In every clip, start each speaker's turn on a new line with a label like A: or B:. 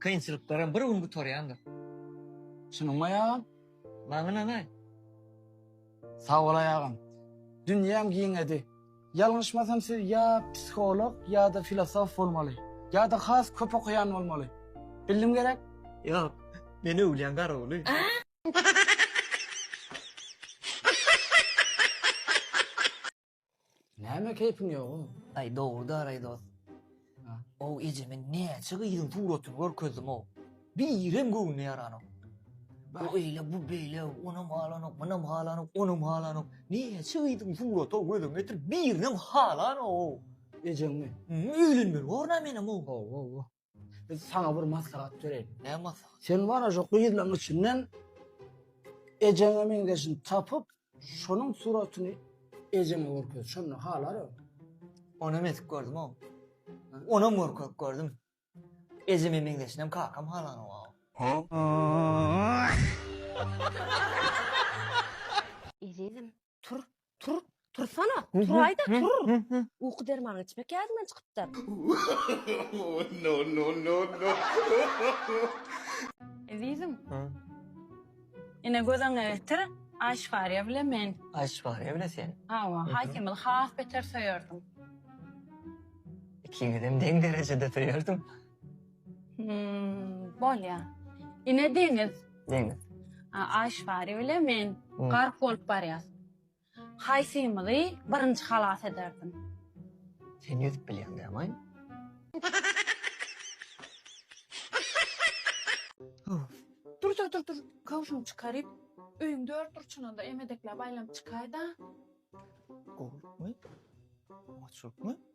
A: Kynçylyklaram bir gün gutarýandyr. Şunuň aýagam. Maňa nanaý. Sag bol aýagym. Dünýäm giňedi. Ýalňyşmasam siz ýa psiholog ýa-da filosof bolmaly. Ýa-da has köp okaýan bolmaly. Bildim gerek? Ýok. Men öwlýäň garawuly. Näme keýpiň ýogum? Aý dogry-da Araý dost. Ow ejeme näçe gyzyň suratyny görkezdim-ow. Birem göwnüne ýaranok. Bu eýle, bu beýle, onam halanok, munam halanok, onam halanok. Näçe gyzyň suraty-ow gözüňe getir, birinem halanok-ow. Ejeňmi? Öýlenmeli bor-a menem-ow. Hawa-hawa. Biz sana bir maslahat bereýin. Ne maslahat? Sen bana şu gyzlaň içinden ejeňe meňzeşini tapyp, şonuň suratyny ejeňe görkez. Şonda halarym. Ona mesik gördüm o. Ona görkök gördüm. Ejeme meňzeşinem kakam halan o. Ezizim, Tur, tur, tursana. Turaýda tur. Uky dermanyny içmek ýadyňdan çykypdyr. No no no no. Ezizim. Ha. Ine gözüňe getir. Aýşwariýa bilen men. Aýşwariýa bilen sen. Hawa, Haýkemil has beter söýerdim. Ikiňizem deň derejede söýerdim. Hmm, bolýar. Ine deňiz. Deňiz. Aýşwari bilen men hmm. gark bolup barýas. Haýsymyzy birinji halas ederdim? Sen ýüzüp bilýän dämaý? Dur, dur, dur, dur. Kawşum çykaryp, öýüň dört burçundan da emedekläp aýlanyp çykaýda. Gowlukmy? Açlykmy?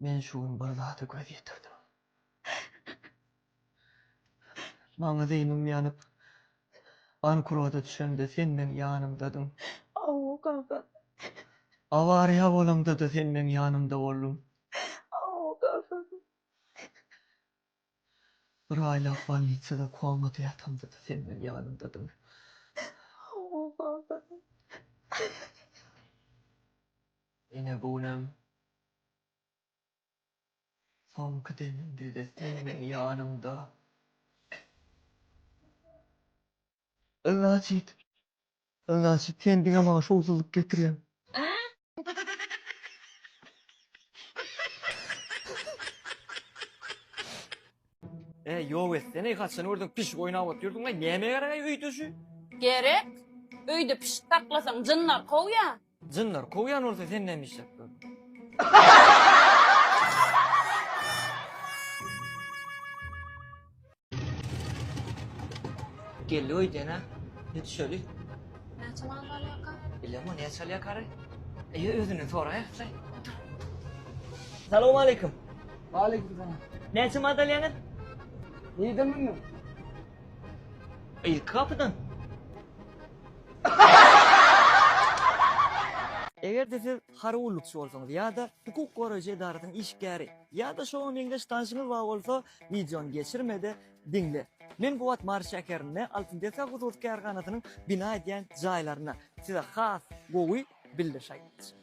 A: Men şu gün bir zada göz ýetirdim. Maňa zeýnim ýanyp, bankrota düşemde sen meň ýanymdadyň. Hawa, kaka. Awariýa bolamda-da sen meň ýanymda bolduň. Hawa, kaka. Bir aýlap bolnisada komada ýatamda-da sen meniň ýanymdadyň. Hawa, baba. Ine, bu günem soňky demimde-de sen meniň ýanymda. Ylaýt. Ylaýt sen diňe maňa şowsuzlyk getirýäň. Äý ýok etseneý haçan gördüň pişik oýnap otyrdyň aý näme gerek aý öýdüşi. Gerek. Öýde pişik saklasaň jynlar kowýa. Jynlar kowýan bolsa sen näme işläp dur. Geldi öýdene. Ne düşeli? Näçe mal galýaka? Bilem o näçe alýar kary. Eýe özünden soraýa. Salam aleyküm. Aleyküm salam. Näçe mal alýaňyz? Nirden bildim? Ilki kapydan. Eger-de siz harby gullukçy bolsaňyz ýa-da hukuk goraýjy edarasynyň işgäri ýa-da şoňa meňzeş tanşyňyz bar bolsa, wideony geçirme-de diňle. Men bu wagt Mary şäherinde Altyn desga hususy kärhanasynyň bina edýän jaýlarynda. Size has gowy bildirişaýtmajy.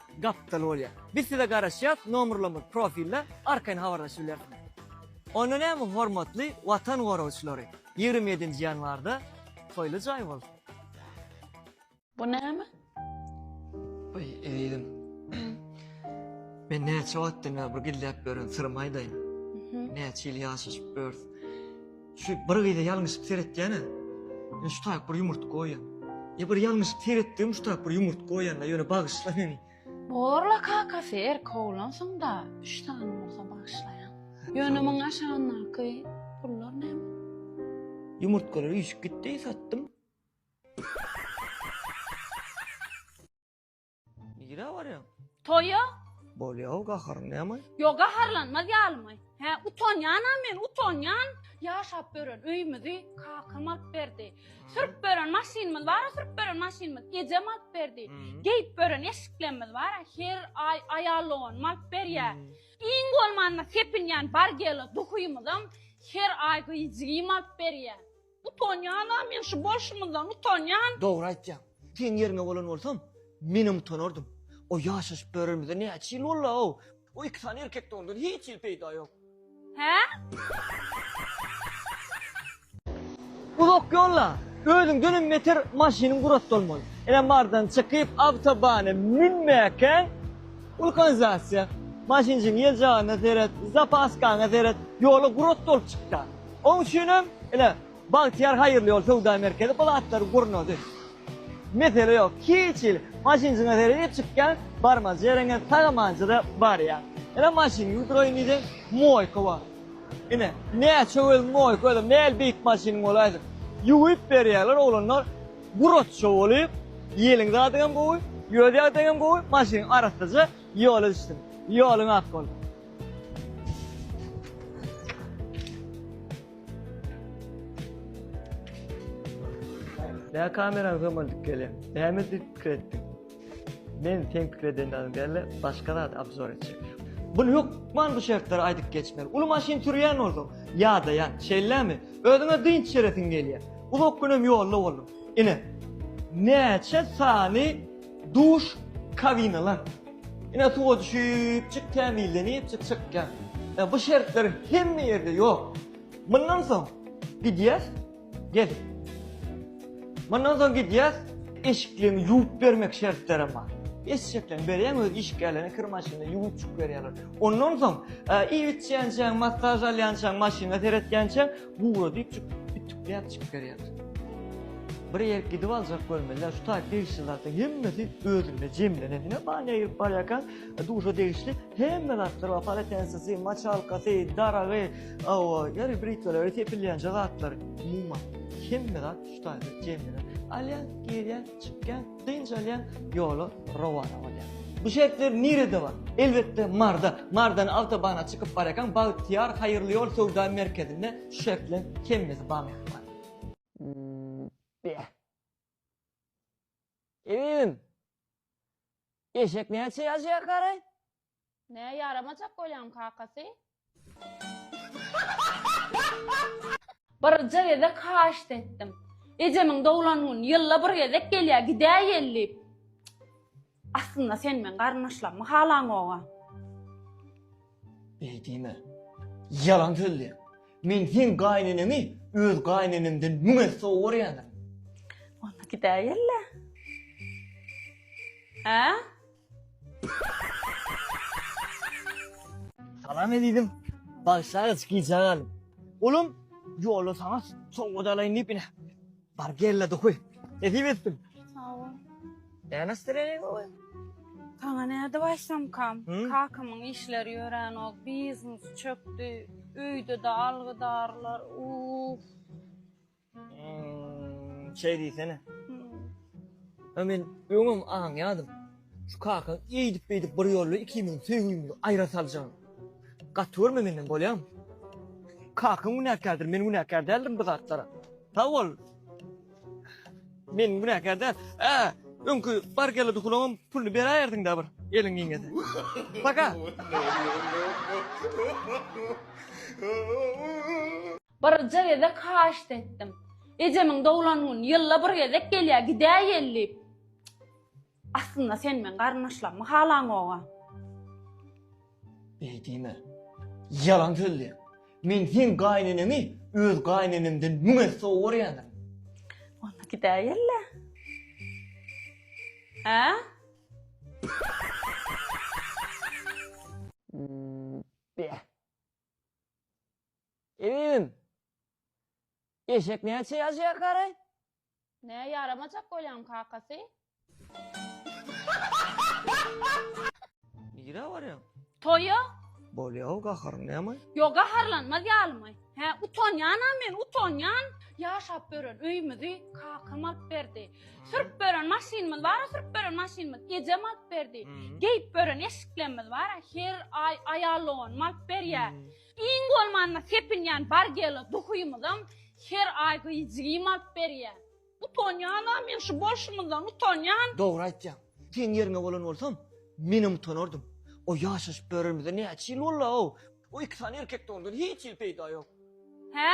A: Gapdal bolýar. Biz size garaşýas nomerlerimiz profilde arkaýyn habarlaşyp bilersiňiz. Onda näme hormatly watan goragçylary ýigrimi ýedinji ýanwarda toýly jaý bolsun. Bu näme? Oý ezizim. Men näçe wagtdan bäri bir gizläp ýören syrymy aýdaýyn. Näçe ýyl ýaşaşyp ýörüs. Şu bir gyza ýalňyşyp seretýän-ä. Men şu taýyp bir ýumurtga goýýan. Ýa bir ýalňyşyp seretdim, şu taýyp bir ýumurtga goýýan-la, ýöne bagyşla meni. Borla kakasy erkek oglansyň-da, üç sany bolsa bagyşlaýan. Ýöne muň aşagyndaky pullar näme? Ýumurtgalar üýşüp gitdi, satdym. Nirä barýaň? Toýa? Bolýa-ow gaharyň näme? Ýok, gaharlanmaz ýalymy? Hä, utanýan-a men, utanýan. Ýaşap bören öýümizi kakam alyp berdi. Sürüp bören maşynymyz bar-a, sürüp bören maşynymyz ejem alyp berdi. Geýip bören eşiklerimiz bar-a, her aý aýal doganymy alyp berýär. Iň bolmanda sepinýän bargela duhymyzam her aý gyýjygym alyp berýär. Utanýan a men şu bolşumyzdan utanýan. Dogry aýtýaň. Seň ýeriňe bolan bolsam, menem utanardym. O ýaşaşyp döremizde näçe ýyl bolla-ow. O iki sany erkekde ondan hiç hili peýda ýok. Hä? Uzak ýolla özüňdenem beter maşynyň gurat bolmaly. Ine bardan çykyp awtobana münmäkäň wulkanizasyýa. Maşynjyň ýeljagana seret, zapaskaňa seret, ýola gurat dolup çykýar. Oň üçin hem ine, Bagtyýar haýyrly ýol söwda merkezi bu zatlary gurnady. Mesele ýok. Hiç hili. Maşynjyňa seredip çykýaň, barmaja ýeriňe sag-amanjada barýaň. Ine, maşyn ýuwduraýyn diýseň, moýka bar. Ine, näçe welin moýka, özem nähili beýik maşynyň bolaýsa, ýuwup berýärler oglanlar, guraçja bolup, ýeliň zadyňam gowy, ýol ýagdaýyňam gowy, maşynyň arassaja ýola düşdüň. Ýoluň ak bolsun. Näme kamerany gömüldük gele? Näme diýip pikir etdiň? Men sen pikir edenden geldi, başga zat obzor etjek. Bu hökman bu şertleri aýdyp geçmeli. Uly maşyn sürýän bolsaň, ýadaýan, şeýlemi? Özüňe dynç beresiň gelýär. Uzak günem ýolda boldum. Ine, näçe sany Duş kabinalar. Ine suwa düşüpjik tämizlenipjik çykýar. Ýa bu şertler hemme ýerde ýok. Mundan soň gidýäs. Gel. Mundan soň gidýäs. Eşiklerini ýuwup bermek şertlerem bar. Eşekleň berýän öz işgärlerine kir maşynda ýuwupjyk berýärler. Ondan soň iýip içýänçäň, massaj alýançaň, maşyna seretýänçäň, Gura diýip çykyp ütükläp çykyp berýär. Bir ýer gidip aljak bolmelä şu taýy degişli zatlar hemmesi özünde jemlenen. Ine ba ne girip barýarkaň duşa degişli hemme zatlar bar. Paletensisi, maçalkasy, daragy, awa, ýeri britwaleri, tepilýänje zatlary. Umuman hemme zat şu taýda jemlenen. Alýan, girýän, çykýan. Dynç alýan ýola rowana bolýar. Bu şertler nirede bar? Elbetde Marda. Mardan awtobana çykyp barýarkaň Bagtyýar haýyrly ýol söwda merkezinde şu şertler hemmesi bar mähriban. Beh. Ebibim. Eşek näçe ýaşaýar garaý? Nä ýaramajak bolýaň kakasy. Birje gezek haýyşt etdim. Ejemiň doglan gün ýylda bir gezek gelýä gidäýeli diýip. Aslynda sen meň garyndaşlarymy halaňoga. Beý diýme. Ýalan sözleýäň. Men seň gaýyneneňi öz gaýynenemden müň esse gowy görýändirin. Onda gidäýeli-le. Hä? Salam ezizim. Bagşaýyz gijä galyp. Ulum, ýolda saňa sowgat alaýyn diýip ine. Bar gelle dokuy. Nesip etsin. Sag bol. Näme nastroýeniň gowy? Saňa näde başlamkam? Hı? Kakamyň işleri ýöränok, biznes çökdi. Öýde-de algydarlar. Uff. Şey diýsene. Ha men öňem aňýadym. Şu kakaň eýdip beýdip bir ýolla ikimiziň söýgümizi aýra saljak. Gaty görme menden bolýam. Kakaň günäkärdir, men günäkär däldirin bu zatlara. Sag bol. Men günäkär däl. Ä, öňki bar geldi hulagyň puluny beräýerdiň-dä bir eliň giňese. Paka. Birje gezek haýyşt etdim. Ejemiň doglan güni ýylda bir gezek gelýär, gidäýeli diýip. Aslynda sen meň garyndaşlarymy halaňoga. Beý diýme. Ýalan sözleýär. Men seň gaýyneneňi öz gaýynenemden müň esse gowy görýändirin. Onda gidäýeli-le. Hä? Beh. Inim! Eşek näçe ýaşaýar garaý? Nä ýaramajak bolýaň kakasy? Nirä barýaň? Toýa. Bolýa-ow gaharyň näme? Ýok gaharlanmaz ýalymy? Hä utanýan-a men utanýan. Ýaşap ýören öýümizi kakam alyp berdi. Sürüp bören maşynymyz bar, sürüp bören maşynymyz ejem alyp berdi. Geýip bören eşiklerimiz bar, her aý aýal doganym alyp berýär. Iň bolmanda sepinýän bargela duhymyzam her aý gyýjigim alyp berýär. Utanýan-a, men şu bolşumyzdan utanýan. Dogry aýtýaň. Seň ýeriňe bolan bolsam, menem utanardym. O ýaşaşyp ýörerimize näçe ýyl boldy-ow. O iki sany erkekde ondan hiç hili peýda ýok. Hä?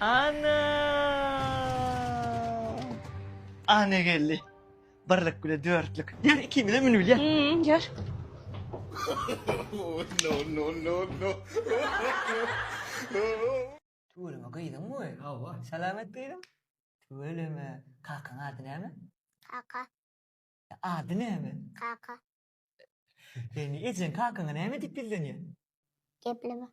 A: Ana! Ana geldi. Birlik bile dörtlük. Yer ikimize münübil ya. Hmm, gel. Oh, no, no, no, no. Tüweleme gyzyň bu. Hawa. Selamet gyzym. Tüweleme. Kakaň ady näme? Kaka. Ady näme? Kaka. Seni ejeň kakaňa näme diýip ýüzlenýär? Gepleme.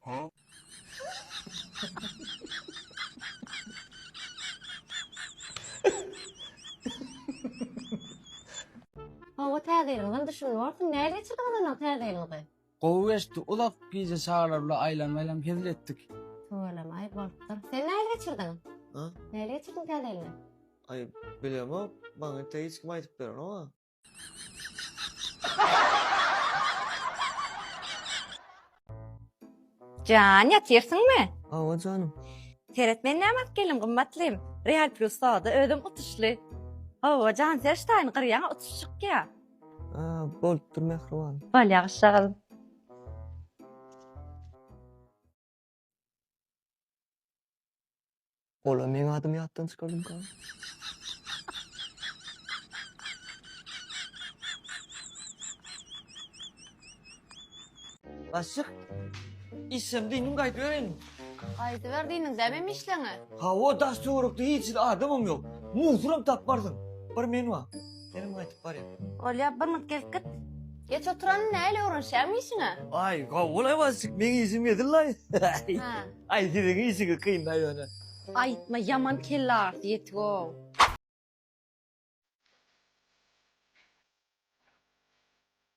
A: Hawa täze ýyl yndy şuny görsün nähili geçirdiň ynanyň täze ýylyňyzy. Gowy geçdi uzak gije çagalar bilen aýlan aýlan hezil etdik. Tüweleme aý bolupdyr. Sen nähili geçirdiň? Ha? Nähili geçirdiň täze ýylyňy? Aý bilemok maňa inte hiç kim aýdyp berenok a. Jan, ýatyrsyňmy? Hawa janym. Seret men näme alyp geldim gymmatlym. Real plus soda özüm utuşly. Hawa jan ser ştaýyny gyrýaňa utuş çykýa. A, bolupdyr mähriban. Bal ýagyşjagazym. Ola meň adymy ýatdan çykardymyka? Başlyk, işem diýmiň gaýdyberin. Gaýdyber diýmiň, dämem işleňe. Hawa, daş töwerekde hiç hili adamam ýok. Musuram tapmarsyň. Bir men bar. Senem gaýtyp barýa. Bolýa bir minut gelip git. Geç oturany näle öwrenişýäňmi işiňe? Aý gawy bol Aýwazjyk meň işim edil-laý. Hä. Aý siziň işiňiz kyn-da ýöne. Aýtma ýaman kelle agyrysy ýetig-ow.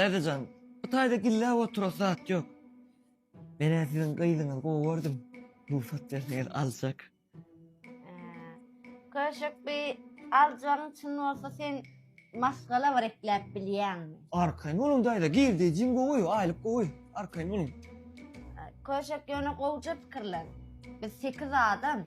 A: Dadajan, bu taýda gilläp oturas zat ýok. Men-ä siziň gyzyňyzy gowy gördüm. Rugsat berseňiz aljak. Köşek bi aljagyň çyn bolsa sen maşgala bir ekläp bilýäňmi? Arkaýyn boluň daýza, girdejiň gowy, aýlyk gowy. Arkaýyn boluň. Köşek ýöne gowja pikirlen. Biz sekiz adam.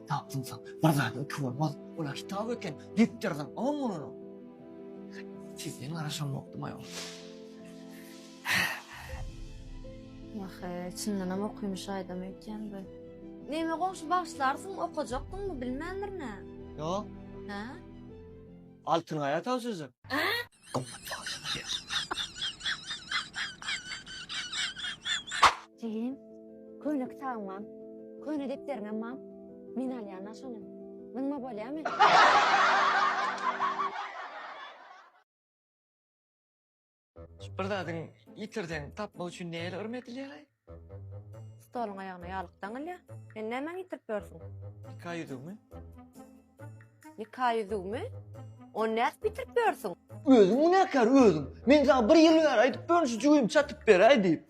A: Tapdymsoň, bir zat iki bolmaz. Ol-a kitap eken, diktordan on bolany. Sizden garaşamokdym aýol. Ýa-ha, çyndanam okymyş aýdam öýtýän bu. Neme goňşy bagyşlarsyň, okajakdyňmy, bilmändir nä? Ýok. Hä? Altyngaýa tabşyrjak. Jigim, köne kitabyň bam, köne depderiňem bam. Men alýan-la şony. Zyňma bolýamy? Bir zadyň ýitirseň tapmak üçin näler yrym edilýär-aý? Stoluň aýagyna ýalyk daňylýa. Sen nämäňi ýitirip ýörsüň? Nika ýüzügimi. Nika ýüzügimi? Ony nädip ýitirip ýörsüň? Özüň günäkär, özüň! Men saňa bir ýyl bäri aýdyp ýörün şu jübimi çatyp beräý diýip.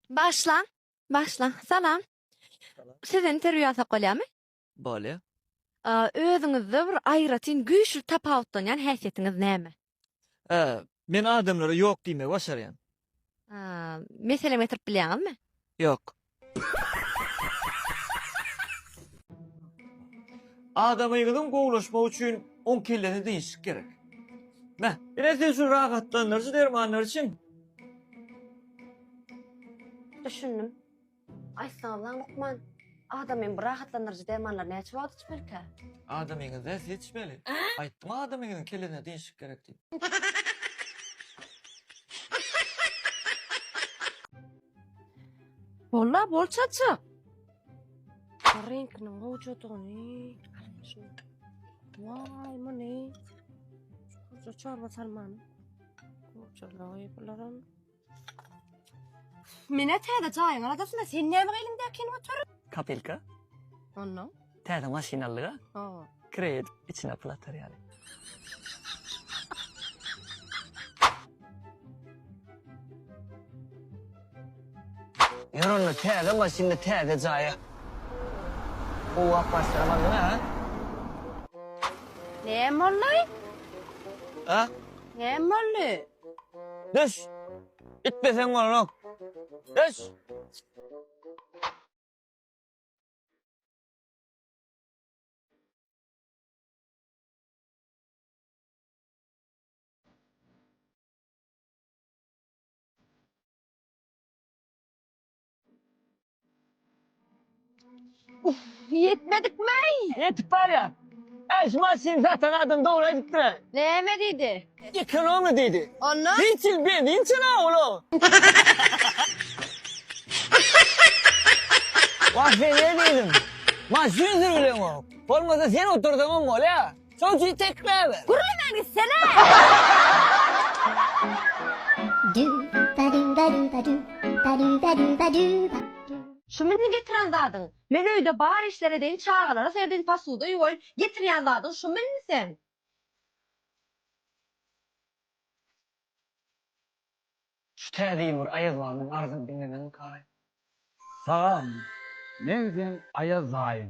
A: Başlaň. Başlaň. Salam. Siz interwýu alsak bolýarmy? Bolýar. Özüňizde bir aýratyn güýçli tapawutlanýan häsiýetiňiz näme? Ä, men adamlara ýok diýmegi başarýan. Ä, meselem getirip bilýäňizmi? Ýok. Adamyňyzyň gowulaşmagy üçin oň kellesini diňişlik gerek. Mä, ine size şu rahatlandyryjy dermanlar içiň. Düşündim. Aýtsaňyz lan lukman, adamyň bu rahatlandyryjy dermanlary näçe wagt içmelikä? Adamyňyz zersi içmeli. Aýtdym adamyňyzyň kellesine degişik gerek diýip. Bolla bol çaçak. Reňkiniň gowjadygyny. Waý, muny. Şu çorba salmany. Gurjalagy bularam. Mine täze jaýyň aladasynda sen näme eliňdäkini otur. Kapelka. Ondan. Täze maşyn aldyga. Hawa. Kredit içine pul atar ýaly. Ýör onda täze maşynda täze jaýa. Gowap başlamalyň ha. Näme boldy? A? Näme boldy? Düş. Itmeseň bolanok. Düş. Ýetmedikmi-ey? Ýetip barýar. Äş maşyn satan adam dogry aýdypdyr-a. Näme diýdi? Ekonomiýa diýdi. Onda? Hiç ýyl benzin çynar olar. Wah, men ne diýdim? Maşyn sürgüleňok. Bolmasa sen otursaňam bolýar. Çocugy tekmäber. Gürlemän gitsene! Şu meni getiren zadyň. Men öýde bar işler edeýin çagalara serdeýin posuda ýuwaýyn getirýän zadyň şu meni sen. Şu täze ýyl bir Aýaz babaň arzyny diňlemedik gaýy. Salam. Men sen Aýaz daýyň.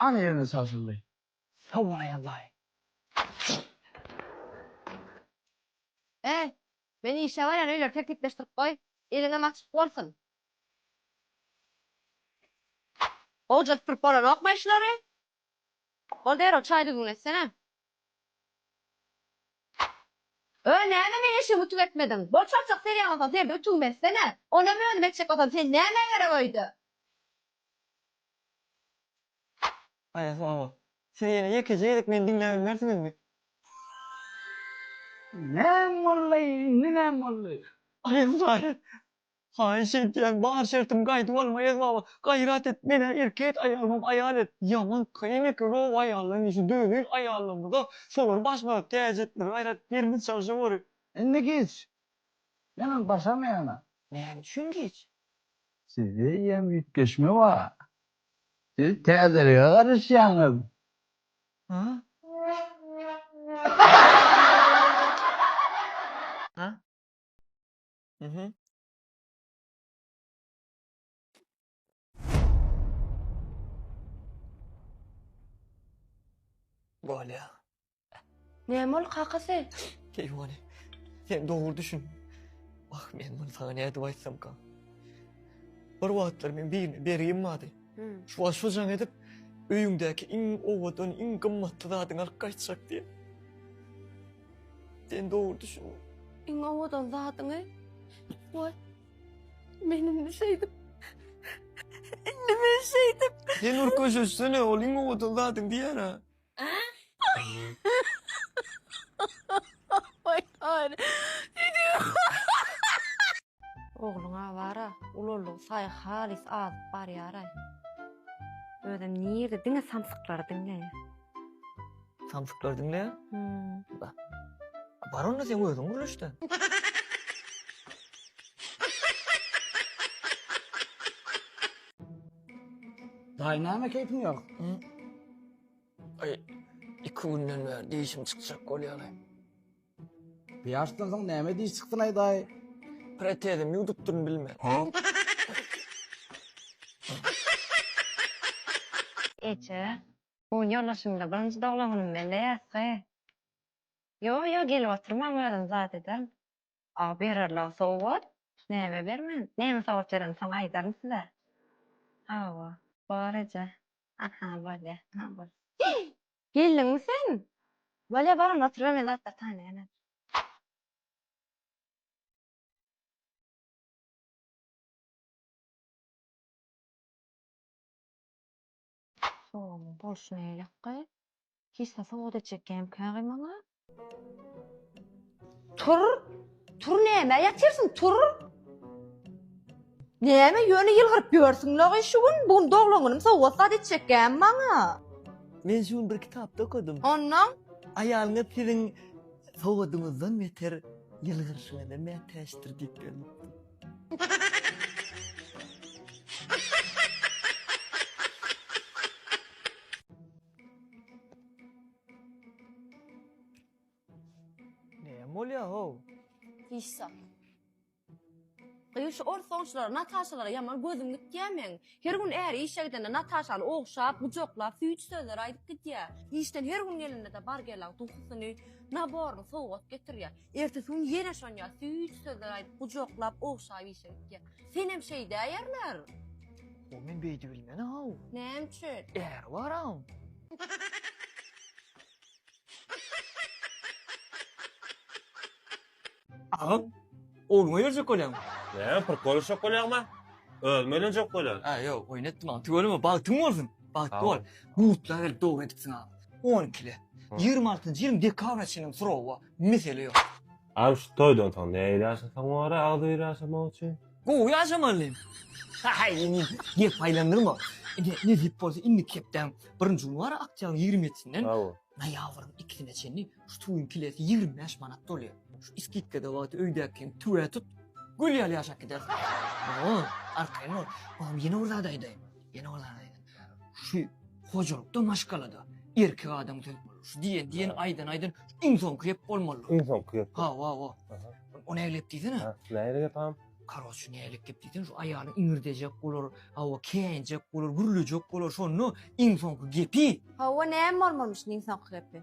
A: Ana ýerine çagşyldy. Howwa-laý, Allaý! Äý, men işe barýan öýleri tertipleşdirip goý, eliňem açyk bolsun. Gowja süpürip bolanokmy eşileri? Bol derrew çaý düzgün etsene. Öý näme meň eşigimi ütük etmediň. Bol çarçak serýän bolsaň serde ütügimi etsene. Onam özüm etjek bolsam sen nämä gerek öýde. Aýas oba. Siz ýene ýekeje gezek meni diňläbilmersiňizmi? Näm boldy, indi näm boldy? Aýas aýas. Haýyş edýän bar şertim gaýdy bolma er baba gaýrat et menä erkek aýalymam aýal et ýaman kyn eken gowy aýaldan işi döwüň aýallarymyza şolary başga täjirtlere gaýrat birimiz çalşa gory. Indi giç. Menem başamaýana. Näme üçin giç? Sizde ýem üýtgeşme bar. Siz täzelige garaşýaňyz. Hä? Mhm. Bolýa. Näme bol kakasy? Keýwany. Sen dogry düşün. Ah, men bunu sana nädip aýtsamka? Bir wagtlar men birine bergim bardy. Hmm. Şu wagt şu jaň edip öýüňdäki iň owadan, iň gymmatly zadyňy alyp gaýtjak diýip. Sen dogry düşündin. Iň owadan zadyňy goý. Men indi şeýdip. Indi men şeýdip. Sen nur köşeşsene, ol iň owadan zadyň diýýär ha. Oý, oý. Ogluňa bar-a, ululygy saýy halys azyp barýar-aý. Özem nirde, diňe samsyklary diňleýär. Samsyklary diňleýär? Hum. Bar onda seň özüň gürleşde. Daýy näme keýpiň ýok? Aý, iki günden bäri dişim çykjak bolýar-aý. Pýaşdan soň näme diş çykdyn aýdaý. Protezimi ýuwdup durun bilmän. Eje, bu ýoldaşymda birinji doglangynym bilen däýäsge. Ýo, ýo, gelip oturmaň özüm zat ederin. A bererler sowgat? Näme bermen? Näme sowgat berenim soň aýdaryn size. Hawa. Bor eje. Aha bolýa. Aha bolýa. Geldiňmi sen? Bolýa bar onda otur men zatlar taýlaýyn. Sowugyň bolşy neýlekge? Hiç zat sowgat etjek gämkägi maňa? Tur, tur näme ýatyrsyň, tur. Näme ýöne ýylgyryp ýörsüň lagy şu gün, bu gün doglan günüm sowgat zat etjekkäm maňa. Men şu gün bir kitapda okadym. Onnoň? Aýalyňyz siziň sowgadyňyzdan beter ýylgyryşyňyza mätäçdir diýip ýörüpdi. Näme bolýar how? Hiç zat. Gyz şu ors ogşulara Nataşalara ýaman gözüm gitýä meň. Her gün äri işe gidende Nataşany ogşap, gujaklap, süýji sözler aýdyp gidýä. Işden her gün gelende-de Bargelaň tuhusyny, naboryny sowgat getirýä. Ertesi gün ýene şonýa süýt sözler aýdyp, gujaklap, ogşap işe gitýär. Senem şeýdäýerler. O men beýdi bilmen-aw. Näme üçin? Äri bar-aw. Agam, ogluňa ýörjek bolýaň. Näme, prikollashak bolýaňmy? Özüm öýlenjek bolýan. Ä, ýok, oýun etdim agam. Tüweleme, bagtyň bolsun. Bagtly bol. Butlary gelip dogry edipsiň agam. On ikili. Ýigrimi altynjy ýylyň dekabryna çenli surawa. Mesele ýok. Agam şu toýdan soň nähili ýaşasaň bor-a agzybir ýaşamak üçin? Gowy ýaşamalym. Haý indi gep aýlandyrma. Indi nesip bolsa indiki hepdäň birinji güni bar-a oktýabryň ýigrimi ýedisinden Hawa. noýabryň ikisine çenli şu tüwüň kilesi ýigrimi bäş manat bolýar. Şu iskitkada wagty öýdäki hem tüwä tut, gül ýaly ýaşap gidersiň. Hawa, arkaýyn bol. Agam ýene bir zat aýdaýyn. Ýene bir zat aýdaýyn. Şu hojalykda maşgalada erkek adam söz bolar. Şu diýen diýen aýdan aýdan iň soňky gep bolmaly. Iň soňky gep. Ha wa wa. O nägilip diýsene. Ha, nägilip gep ham? Karoç nägilip gep diýsene şu aýaly iňirdejek bolar, ha wa käýinjek bolar, gürlejek bolar şonda iň soňky gepi. Ha wa näme bolmalymyş iň soňky gepi?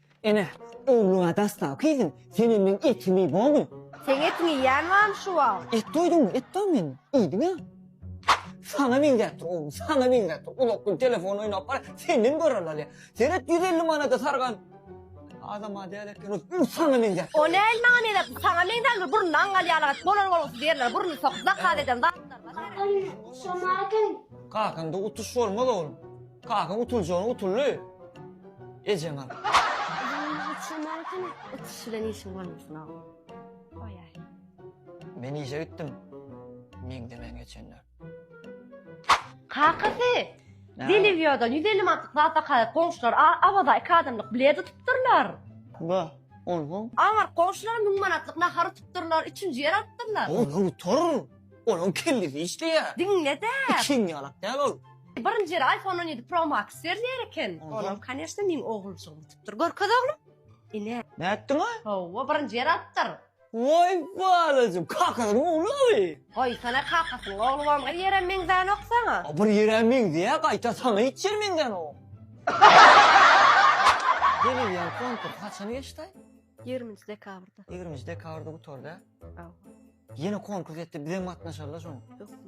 A: Ene, öwlüga daslawky iziň senenden etini iý bomy? Seň etiň iýýän bamy şu wagt? Et doýduňmy? Et doý men iýdim-ä. Saňa meňzäpdir oglum, saňa meňzäpdir. Uzak gün telefon oýnap bar, senden gören alýar. Seret ýüz elli manada sargan adama däl eken ol. Ol saňa meňzäpdir. O näl maňa meňzäpdir? Saňa meňzändir, burnuňdan gal ýalaňaç bolar bolgusyz ýerlere burnuny sokup zakaz eden zatlaryňa. Kakam şomarken. Kakaňda utuş bolmaz oglum. Kaka utuljany utuldy. Ejeň al. Ýüzüňi uçurmaly hany. Utuş bilen işiň bolmasyn ogul. Goýaý. Men işe gitdim. Meňzemen geçenler. Kakasy! Näme? Delivýodan ýüz elli manatlyk zat zakaýat goňşular a Awaza iki adamlyk bilet utupdyrlar. Ba, onsoň? Aňyrk goňşular müň manatlyk nahar utupdyrlar, üçünji ýer alypdyrlar. Olar utar. Onuň kellesi işleýä. Diňle-dä. Ikiň ýalak däl ol. Birinji ýeri iPhone on ýedi Pro Max berýär eken. Onam kanyşda meň oguljygym utupdyr. Görkez oglum. Ine. Nätdiňä? Hawa, birinji ýeri alypdyr. Waý balajym, kakasynyň ogly owi. Goýsana kakasynyň ogly bam bir ýerem meňzänok saňa. A bir ýerä meňzeýä gaýta saňa hiç ýer meňzänok. Delil ýaly konkur haçan geçdaý? Ýigriminji dekabrda. Ýigriminji dekabrda gutardy a. Ýene konkurs etdi, bizem gatnaşaly şoň. Hökman.